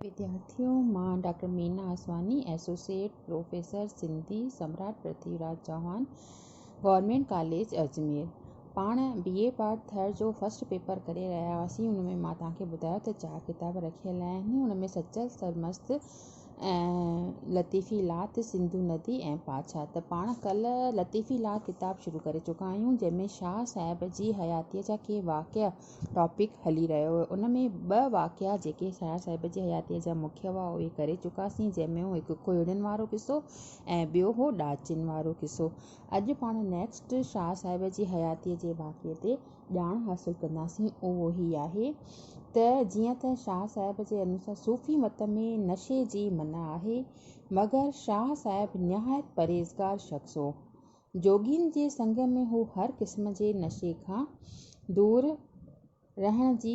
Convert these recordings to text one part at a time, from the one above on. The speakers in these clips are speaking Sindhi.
وديارٿين مان doctor Meena Aswani, associate professor Sindhi, Samrat Prithvi Raj Chauhan, government college Ajmer. پاڻ بي اي پارٽ ٿر جو فرسٽ پيپر ڪري رهيا هئاسين، ان ۾ مان توهان کي ٻڌايو ته چار ڪتاب رکيل آهن، ان ۾ سچل سرمست ۽ لطيفي لات، سنڌو ندي ۽ پاڇا. ته پاڻ ڪلهه لطيفي لات ڪتاب شروع ڪري چڪا آهيون، جنهن ۾ شاهه صاحب جي حياتيء جا ڪي واقعا، ٽاپڪ هلي رهيو هو ان ۾ ٻه واقعا جيڪي شاهه صاحب جي حياتيء جا مکيه هئا اهي ڪري چڪاسين جنهن ۾ هو هڪ کوهڙين وارو قصو ۽ ٻيو هو ڏاچين وارو قصو. اڄ پاڻ نيڪسٽ شاهه صاحب جي حياتيء جي واقعي تي ڄاڻ حاصل ڪنداسين اهو هي آهي ته جيئن ته شاهه صاحب جي انوسار صوفي مت ۾ نشي جي منع آهي مگر شاهه صاحب نهايت پرهيزگار شخص هو جوڳين جي سنگ ۾ هو هر قسم جي نشي کان دور رهڻ جي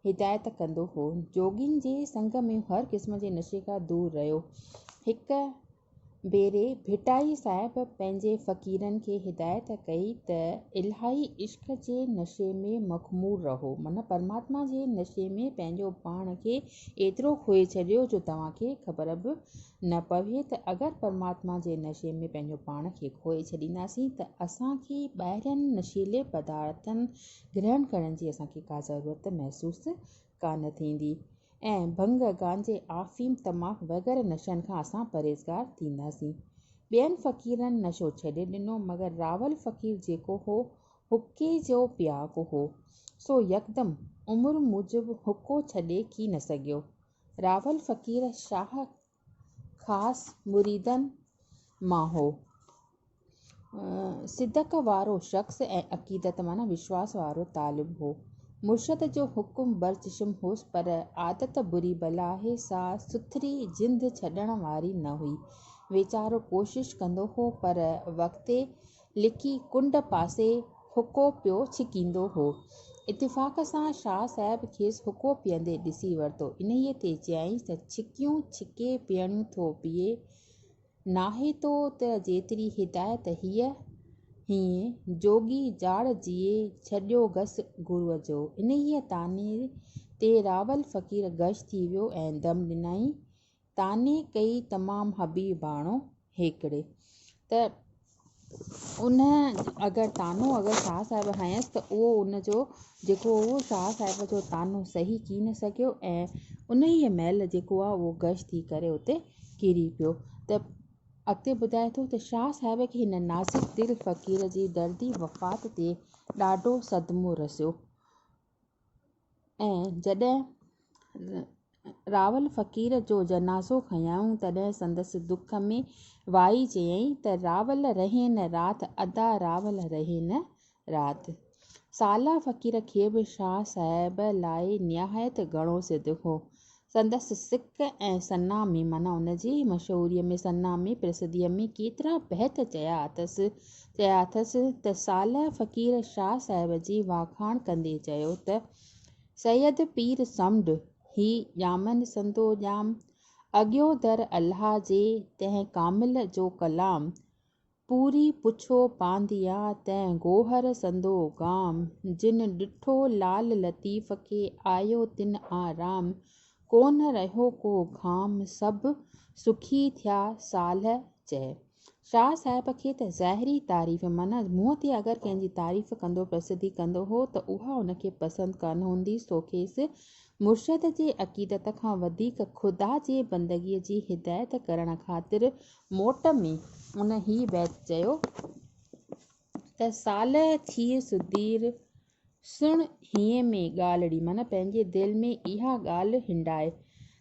هدايت ڪندو هو. جوڳين جي سنگ ۾ هر قسم جي نشي کان دور رهيو. هڪ ڀيري ڀٽائي صاحب پنهنجي فقيرن کي هدايت ڪئي ته الاهي عشق جي نشي ۾ مخمور رهو، معنيٰ پرماتما جي نشي ۾ پنهنجو پاڻ کي ايترو کوئي ڇڏيو جو توهان کي خبر به نه پوي ته اگر پرماتما جي نشي ۾ پنهنجو پاڻ کي کوئي ڇڏينداسين ته اسان کي ٻاهرين نشيلي پدارٿن گرهڻ ڪرڻ جي اسان کي ڪا ضرورت محسوس ڪانه ٿيندي ۽ ڀنگ، گانجي، آفيم، تماڪ وغيره نشن کان اسان پرهيزگار ٿينداسين. ٻين فقيرن نشو ڇڏي ڏنو مگر راول فقير جيڪو هو حقي جو پياڪو هو سو يڪدم عمر موجب حقو ڇڏي ڪي نه سگهيو. راول فقير شاهه خاص مريدن مان هو. صدق وارو شخص ۽ عقيدت معنيٰ وشواس وارو طالب هو. مرشد جو حڪم برچشم هوس پر عادت بري بلاهي سان سٿري جند ڇڏڻ واري نه هئي. ويچارو ڪوشش ڪندو هو پر وقتي لڪي ڪنڊ پاسي حقو پيو ڇڪيندو هو. اتفاق سان شاهه صاحب کيس حقو پيئندي ڏسي ورتو. انهيء تي چيائينس ته ڇڪيون ڇڪي پيئڻيون ٿو پيئي. ناهي تو ته جيتري هدايت هيء هينء جوڳي جاڙ جيئي ڇڏيو گس گروء جو. انهيء تانيء تي راول فقير غش ٿي ويو ۽ دم ڏنائين طعني ڪئي تمام حبيباڻو هيڪڙي ته ان اگر طعنو اگر شاهه صاحب هنيس ته اهو ان جو جيڪو هو شاهه صاحب جو طعنو سهي ڪي نه سگهيو ۽ انهيء مهل جيڪو آهي اهو غش ٿي ڪري اتي ڪري پيو ته اڳتي ٻڌائي ٿو ته شاهه صاحب کي هن نازڪ دل فقير جي دردي وفات تي ڏاڍو صدمو رسيو ۽ جڏهن راول فقير جو جنازو کنيائون تڏهن سندس دک ۾ وائي چيائين ته راول رهين راٿ ادا راول رهين راٿ. سالا فقير کي به شاهه صاحب لاء نهايت گهڻو صدق هو. سندس سڪ ۽ ثنا ۾ معنيٰ ان جي مشهوريء ۾ ثنا ۾ پرسڌيء ۾ ڪيترا بيت چيا اٿس، چيا اٿس ته صالح فقير شاهه صاحب جي واکاڻ ڪندي چيو ته، سيد پير سمنڊ هي ڄامن سندو ڄام، اڳيو در الله جي تنهن ڪامل جو ڪلام، پوري پڇو پانڌيا تنهن گوهر سندو گام، جن ڏٺو لعل لطيف کي آيو تن آرام، ڪونه رهيو ڪو گهام سڀ سکي ٿيا صالح چئي. شاهه صاحب کي ته ظاهري تعريف معنيٰ منهن تي اگر ڪنهن جي تعريف ڪندو پرسڌي ڪندو هو ته اها ان کي پسند ڪانه هوندي سو کيس مرشد جي عقيدت کان وڌيڪ خدا جي بندگي جي هدايت ڪرڻ خاطر موٽ ۾ ان هي بيت چيو ته صالح ٿيء سڌير، سڻ هينء ۾ ڳالهڙي معنيٰ پنهنجي دل ۾ اها ڳالهه هنڊاء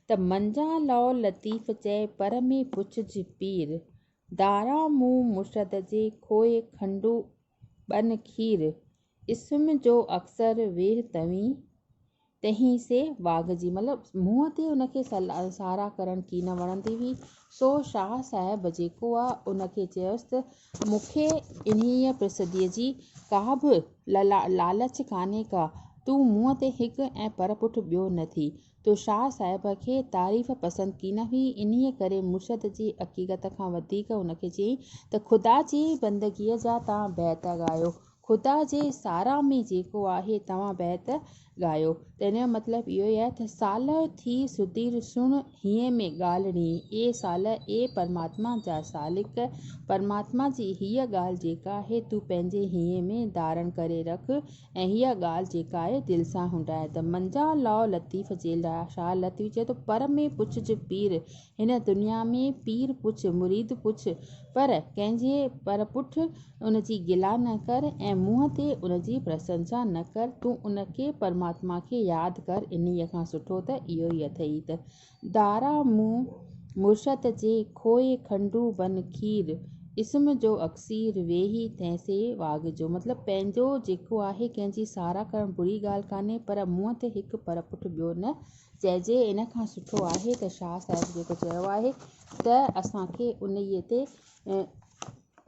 ته منجان لئو لطيف چئي پر ۾ پڇج پير، داران مون مرشد جي کوهه کنڊو ٻن کير، اسم جو اڪثر ويهه توين، تنهين سي واڳ جي. مطلب منهن تي ان کي سارا ڪرڻ ڪي نه وڻندي هئي، سو شاهه صاحب جيڪو آ، ان کي چيس ته، مون کي انهيء پرسڌيء جي ڪا به لالچ ڪانهي ڪا، تون منهن تي هڪ ۽ پر پٺ ٻيو نه ٿي. جو شاهه صاحب کي تعريف پسند ڪين هئي، انهيء ڪري مرشد جي عقيدت کان وڌيڪ هن کي چيائين ته خدا جي بندگيء جا توهان بيت ڳايو، خدا جي ساراهه ۾ جيڪو آهي توهان بيت ڳايو ته ان جو مطلب اهو ئي آهي ته صالح ٿي سڌير سڻ هينئين ۾ ڳالهه ڙينهين، اي صالح! اي پرماتما جا سالڪ! پرماتما جي هيء ڳالهه جيڪا آهي تون پنهنجي هينئين ۾ ڌارڻ ڪري رک، ۽ اها ڳالهه جيڪا آهي دل سان هنڊائي ته منجا لاء لطيف جي لاء شاهه لطيف چئي ٿو پر ۾ پڇج پير هن دنيا ۾ پير پڇ مريد پڇ پر ڪنهن جي پر پٺ ان جي گلا نه ڪر ۽ منهن تي ان جي پرسنسا نه ڪر تون ان کي پرماتما کي ياد ڪر انهيء کان سٺو ته اهو ئي اٿئي ته دارا مون مرشد جي کوهي کنڊو بن کير اسم جو اڪسير ويهي تنهن سي واڳ جو مطلب پنهنجو جيڪو آهي ڪنهن جي ساراهه ڪرڻ بري ڳالهه ڪانهي پر منهن تي هڪ پر پٺ ٻيو نه چئجي ان کان سٺو آهي ته شاهه صاحب جيڪو چيو آهي ته اسان کي انهيء تي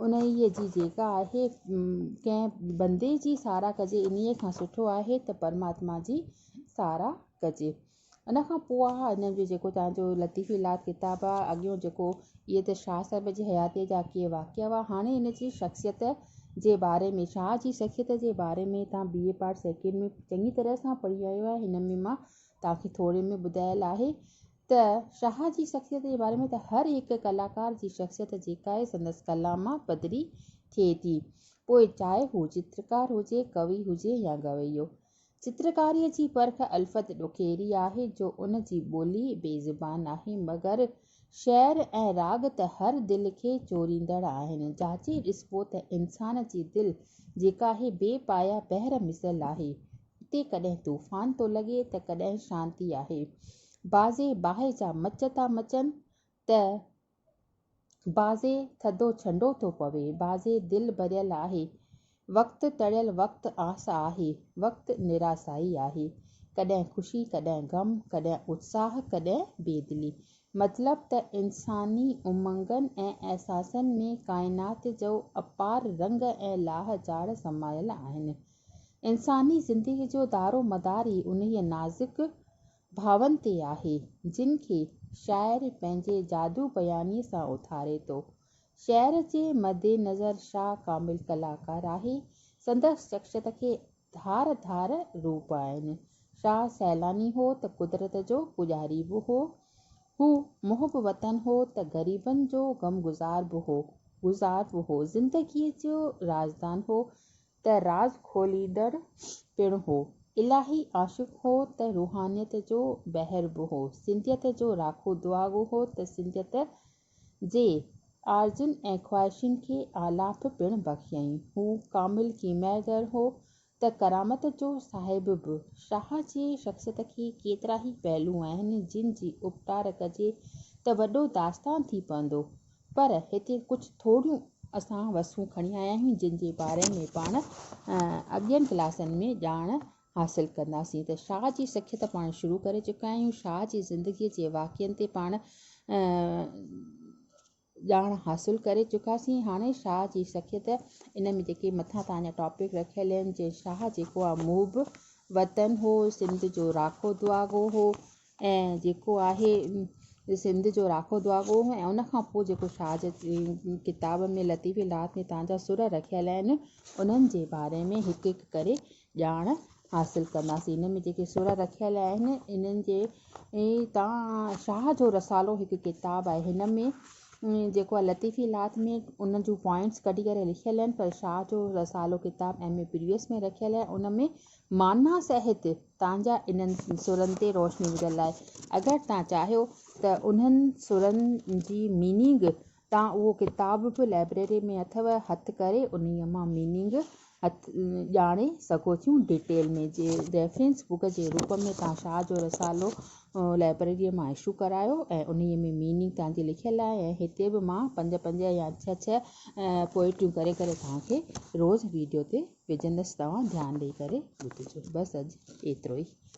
انهيء جي جيڪا آهي ڪنهن بندي جي ساراهه ڪجي انهيء کان سٺو آهي ته پرماتما جي ساراهه ڪجي ان کان پوء اھا ھن جو جيڪو توھان جو لطيف الھات ڪتاب آ، اڳيون جيڪو اھي ته شاھه صاحب جي حياتيء جا ڪي واقعا ھئا، ھاڻي ھن جي شخصيت جي باري ۾، شاھه جي شخصيت جي باري ۾ توھان بي اي پارٽ سيڪنڊ ۾ چڱي طرح سان پڙھي آيو آھي، ھن ۾ مان توھان کي ٿوري ۾ ٻڌايل آھي ته شاھه جي شخصيت جي باري ۾ ته ھر ھڪ ڪلاڪار جي شخصيت جيڪا آھي سندس ڪلام مان پڌري ٿئي ٿي پوء چاھي ھو چترڪار ھجي، ڪوي ھجي يا گويو چترڪاريء جي پرک الفت ڏوڪيري آهي جو ان جي ٻولي بي زبان آهي مگر شعر ۽ راڳ ته هر دل کي چوريندڙ آهن. جاچي ڏسبو ته انسان جي دل جيڪا هي بي پايا بحر مثل آهي. هتي ڪڏهن طوفان ٿو لڳي ته ڪڏهن شانتي آهي. بعضي باهه جا مچ ٿا مچن ته بعضي ٿڌو ڇنڊو ٿو پوي، بعضي دل ڀريل آهي، وقت ٽڙيل وقت آس آهي، وقت نراسائي آهي، ڪڏهن خوشي ڪڏهن غم، ڪڏهن اتساهه ڪڏهن بيدلي، مطلب ته انساني امنگن ۽ احساسن ۾ ڪائنات جو اپار رنگ ۽ لاهه چاڙهه سمايل آهن. انساني زندگي جو دارو مدار ئي انهيء نازڪ ڀاون تي آهي، جن کي شاعر پنهنجي جادو بيانيء سان اٿاري ٿو. شعر جي مد نظر شاهه ڪامل ڪلاڪار آهي، سندس شخصيت کي ڌار ڌار روپ آهن. شاهه سيلاني هو ته قدرت جو پوڄاري به هو. هو محب وطن هو ته غريبن جو غمگذار به هو. زندگيء جو رازدان هو، ته راز کوليندڙ پڻ هو. الاهي عاشق هو ته روحانيت جو بحر به هو. سنڌيت جو راکو دعاگو هو ته سنڌيت جي آرزن ۽ خواهشن کي آلاپ پڻ بخشيائين. هو ڪامل ڪيمياگر هو ته ڪرامت جو صاحب به. شاهه جي شخصيت کي ڪيترائي پهلو آهن، جن جي اپٽار ڪجي ته وڏو داستان ٿي پوندو. پر هتي ڪجهه ٿوريون اسان وسون کڻي آيا آهيون جن جي باري ۾ پاڻ اڳين ڪلاسن ۾ ڄاڻ حاصل ڪنداسين ته شاهه جي سکيت پاڻ شروع ڪري چڪا آهيون شاهه جي زندگي جي واقعن تي پاڻ ڄاڻ حاصل ڪري چڪاسين هاڻي شاهه جي سکيت ان ۾ جيڪي مٿان تان جا ٽاپڪ رکيل آهن جي شاهه جيڪو آهي محب وطن هو سنڌ جو راکو دعاگو هو ۽ جيڪو آهي سنڌ جو راکو دعاگو ۽ ان کان پوء جيڪو شاهه جي ڪتاب ۾ لطيف الهات ۾ تان جا سر رکيل آهن انهن جي باري ۾ هڪ هڪ ڪري ڄاڻ حاصل ڪنداسين ان ۾ جيڪي سر رکيل آهن انهن جي تان شاهه جو رسالو هڪ ڪتاب آهي هن ۾ جيڪو آهي لطيف الهات ۾ ان جون پوائنٽس ڪڍي ڪري لکيل آهن پر شاهه جو رسالو ڪتاب ايم اي پريوس ۾ رکيل آهي ان ۾ معنيٰ سهت، تان جا انهن سرن تي روشني وجهڻ لاء اگر تان چاهيو ته انهن سرن جي ميننگ تان اهو ڪتاب به لائبريري ۾ اٿو هٿ ڪري انهي مان ميننگ ڄاڻي سگهو ٿيون ڊيٽيل ۾ جي ريفرنس بڪ جي روپ ۾ تان شاهه جو رسالو لائبريري مان اشو ڪرايو ۽ انهي ۾ ميننگ تان جي لکيل آهي ۽ هتي به مان پنج پنج يا ڇهه ڇهه پوئٽريون ڪري ڪري توهان کي روز ويڊيو تي وجهندس توهان ڌيان ڏئي ڪري ٻڌجو بس اڄ ايترو ئي.